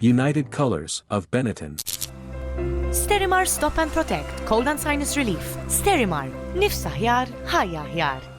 United Colors of Benetton. Sterimar Stop and Protect, Cold and Sinus Relief. Sterimar, nifs aħjar, ħajja aħjar.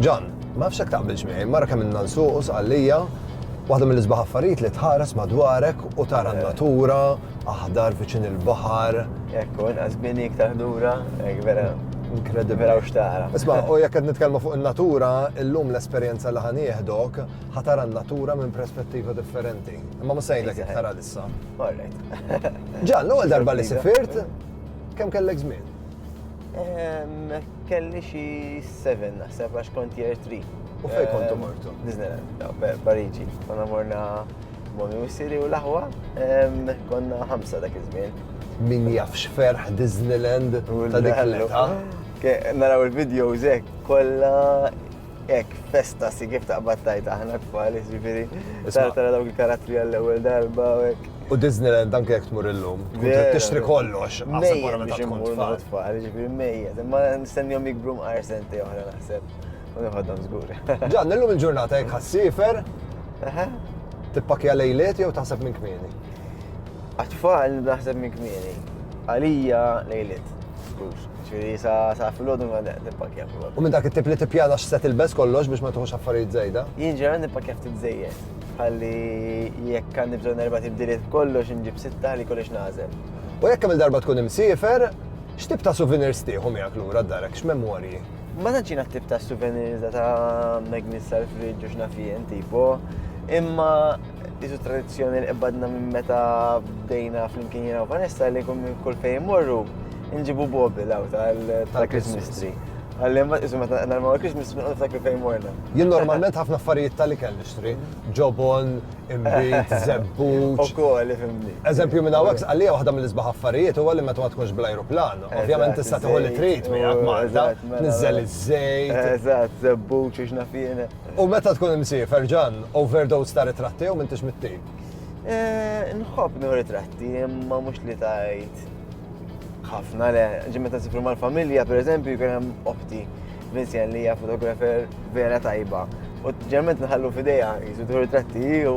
Ġan, ma fxek taqbilx miegħi, mara kemm inna nsuq u sqallija, waħda mill-isbaħ affarijiet li tħares madwarek u tara eh. n-natura, aħdar viċin il-baħar. Ekku, inqas bini iktar ħdura, ek vera. Inkredibbli. Vera xtara. Isma, u jekk qed nitkellmu fuq in-natura, illum l-esperjenza li ħanieħdok ħatara n-natura minn perspettiva differenti. Imma ma sejlek iktar Ġan, l-ewwel darba li sifirt, kemm kellek żmien? Ehm, kelli xi 7 naħseb għax kont year 3. U fejn kont ehm, mortu? Disneyland, Pariġi. Konna morna Momi u Siri u l-aħwa, ehm, konna ħamsa dak iż-żmien. Min jafx ferħ Disneyland ta' dik l-età? Naraw il-videos hekk kollha Ek, festa si kif taqbad tajt aħna tfal, ġifiri. Tara dawk il-karattri għall-ewwel darba u hekk. U Disneyland anke jekk tmur illum, tixtri kollox. Mejja biex imur tfal, ġifiri mejja. Ma nistennihom jikbru mqar senti oħra naħseb. U nħoddhom żgur. Ġan, illum il-ġurnata jekk ħassifer. Tippakja lejliet jew taħseb minn kmieni? Għatfall naħseb minn kmieni. Għalija lejliet. Ġifieri sa sa filgħodu ma nippakkja filgħodu. U minn dak it-tip li tippjana x'se tilbes kollox biex ma tuħux affarijiet żejda? Jien ġeneralment nippakkja ftit żejjed. Ħalli jekk għandi bżonn erba' tibdiliet kollox inġib sitta li kollox nagħżel. U jekk kemm-il darba tkun imsiefer, x'tip ta' souvenirs tieħu miegħek lura d-darek, x'memorji? Ma tantx jiena t-tip ta' souvenirs ta' magnets tal-friġġ u x'naf jien tipo, imma Ditu tradizzjoni li qbadna minn meta bdejna flimkien jiena u Vanessa li kum kull fejn morru nġibu bobil għaw tal-Christmas tree. Għalli ma isu meta narma għal Christmas tree għal ftakri fejn morna. Jien normalment ħafna affarijiet tal kell nixtri. Ġobon, imbit, zebbu. U kol, fimni. Eżempju minn għawek, għalli waħda mill-isbaħ affarijiet u għalli meta ma tkunx bl-aeroplan. Ovvjament tista' tħolli trit miegħek Malta. Nizzel iż-żejt. Eżatt, zebbu, ċiċna fienet. U meta tkun imsiefer, Ġann, overdose ta' ritratti jew m'intix mit-tip? Eh, nħobb nieħu ritratti, imma mhux li tgħid ħafna le. Ġi meta nsifru mal-familja, pereżempju, jkun hemm oħti Vincent li hija fotografer vera tajba. U ġerment nħallu f'idejha, jisu tieħu ritratti u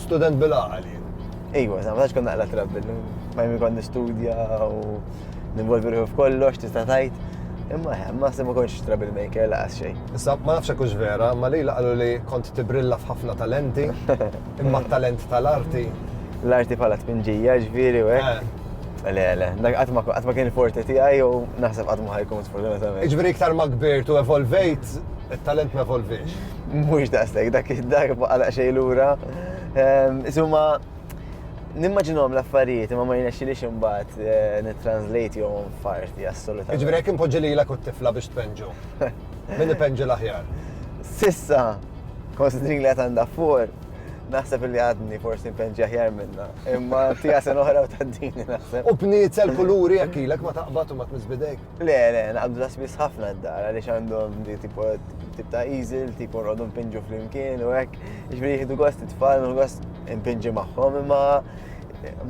Student bil-għaqal jien. Ejwa, sa ma tax konna għala trabbi, ma jmi konna studja u ninvolvi ruħu f'kollox, tista' tajt. Imma ħem, ma se ma konx trouble maker laqas xejn. Issa, ma nafx kux vera, ma li laqalu li kont tibrilla f'ħafna talenti, imma talent tal-arti. L-arti bħala tpinġija, ġviri, u eh. Le, le, dak għatma kien forti ti għaj, u naħseb għatma ħajkun sfortunatament. Ġviri iktar ma kbirt u evolvejt, il-talent ma evolvejx. Mhux daqshekk dak id-darba għalaq xejn lura. Ehm, Isuma, nimmaġinhom l-affarijiet imma ma jnexxilix imbagħad eh, nitranslate jew farti assolutament. Ġifieri jekk impoġġi lilek u t-tifla biex tpenġu. Min ipenġi l-aħjar? Sissa, konsidrin li għad għandha for, naħseb li għadni forsi npenġi aħjar minna. Imma tija sen oħra u taddini naħseb. U bniet sel kuluri jekk ilek ma taqbad u ma tmiss bidejk. Le, le, naqbdu ta' spiss ħafna d-dar, għaliex għandhom di tipo tip ta' easel, tipo nqogħdu npinġu flimkien u hekk. Ġifieri jieħdu gost it-tfal, u gost npinġi magħhom, imma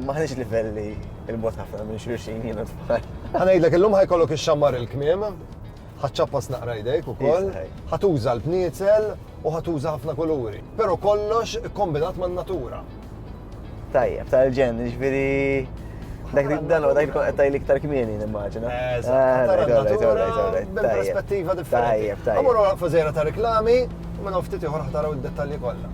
maħniex livelli il-bot ħafna minn xulxin jiena tfal. Ħanajdlek illum ħajkollok ix-xammar il-kmiem, ħaċċappas naqra jdejk ukoll, ħatuża l-bniezel, u ħa tuża ħafna kuluri, pero kollox kombinat man natura. Tajjeb, tal-ġen, ġviri. Dak li dan dak li qed tajli iktar kmieni nimmaġina. Perspettiva differenti. Amur wara fażera ta' reklami, u minn ftit ieħor ħtaraw id-dettalji kollha.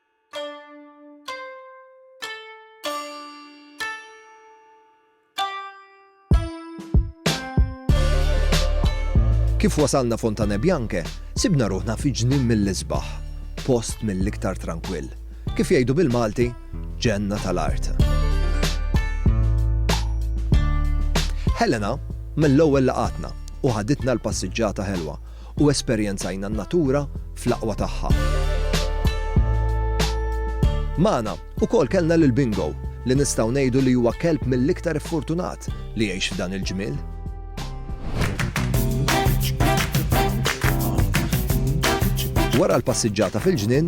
Kif wasalna Fontane Bianche, sibna ruħna fi ġnien mill-isbaħ, post mill-iktar tranquill. Kif jgħidu bil-Malti, ġenna tal-art. Helena mill-ewwel laqatna u ħaditna l-passiġġata ħelwa u esperjenzajna n-natura fl-aqwa tagħha. Magħna ukoll kellna lil Bingo, li nistgħu ngħidu li huwa kelb mill-iktar iffortunat li jgħix f'dan il-ġmiel. Wara l-passiġġata fil-ġnien,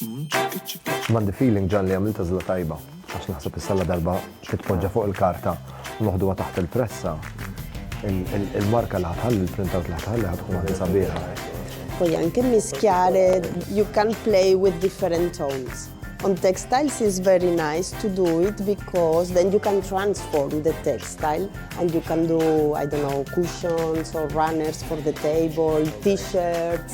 M'għandi feeling Ġan li għamilt għażla tajba għax naħseb issa la darba titpoġġa fuq il-karta u noħduha taħt il-pressa il-marka li ħatħalli l-printout li ħatħalli ħatkun għandi sabiħa. Poi anche mischiare, you can play with different tones. On textiles is very nice to do it because then you can transform the textile and you can do, I don't know, cushions or runners for the table, t-shirts.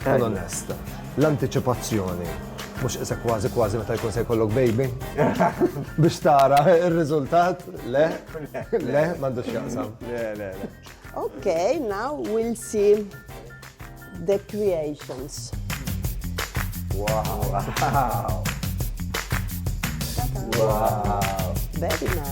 Tkun onest. L-antiċipazzjoni mhux qisek kważi kważi meta jkun se jkollok baby. Biex tara r-riżultat, le, le, m'għandux jaqsam. Le, le, le. Ok, now we'll see the creations. Wow! Wow! Very nice.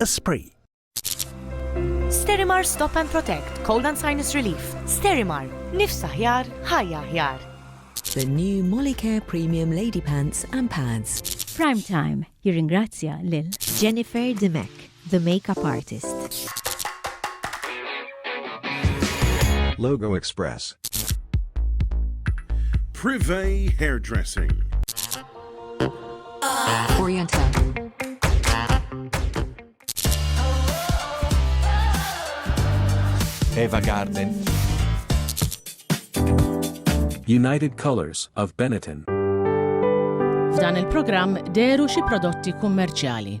Esprit. Sterimar Stop and Protect, Cold and Sinus Relief. Sterimar, nifsa ħjar, ħajja ħjar. The new Molicare Premium Lady Pants and Pads. Prime Time jirringrazzja lil Jennifer Dimek. The Makeup Artist. Logo Express. Privé Hairdressing. Oriental. Eva Garden. United Colors of Benetton. F'dan il-programm deru xi prodotti kummerċjali.